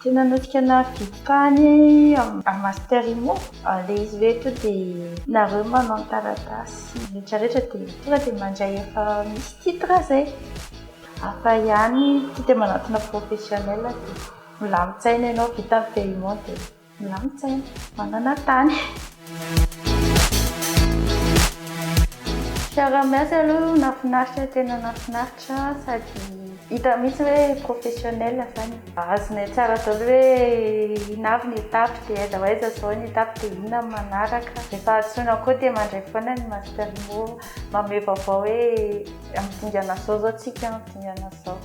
Tena nodika nahavidy tany amin'ny Master Immo, ilay izy hoe tonga dia nareo manao ny taratasy rehetrarehetra dia tonga dia mandray efa misy titre izay. Hafa ihany ity dia manantona professionnel dia milamin-tsaina ianao, vita ny paiement dia. Milamin-tsaina, manana tany. Fiaraha-miasa aloha nahafinaritra, tena nahafinaritra sady hita mihitsy hoe professionnel zany. Azonay tsara daholo hoe inona avy ny étape dia aiza ho aiza izao ny étape dia inona ny manaraka. Rehefa antsoina koa dia mandray foana ny Master Imo manome vaovao hoe amin'ny dingana izao izao tsika, amin'ny dingana izao.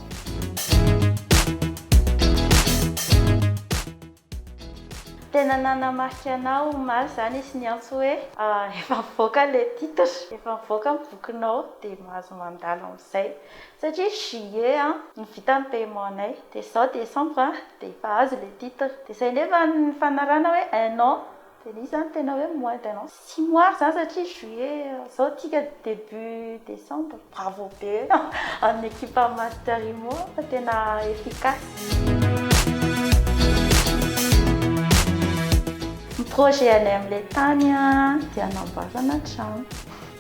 Tena nanamarika anao omaly izany izy niantso hoe efa mivoaka ilay titre, efa mivoaka ny bokinao dia mahazo mandalo amin'izay satria juillet no vita ny paiement nay dia izao décembre dia efa azo ilay titre dia izay nefa ny fanarahana hoe un an Dia nisy zany tena hoe mois de non six mois ary zany satria juillet zao tsika début décembre. Bravo be amin'ny ekipan'ny Master Imo fa tena efficace. Ny projet anay amin'ilay tany dia hanamboarana trano.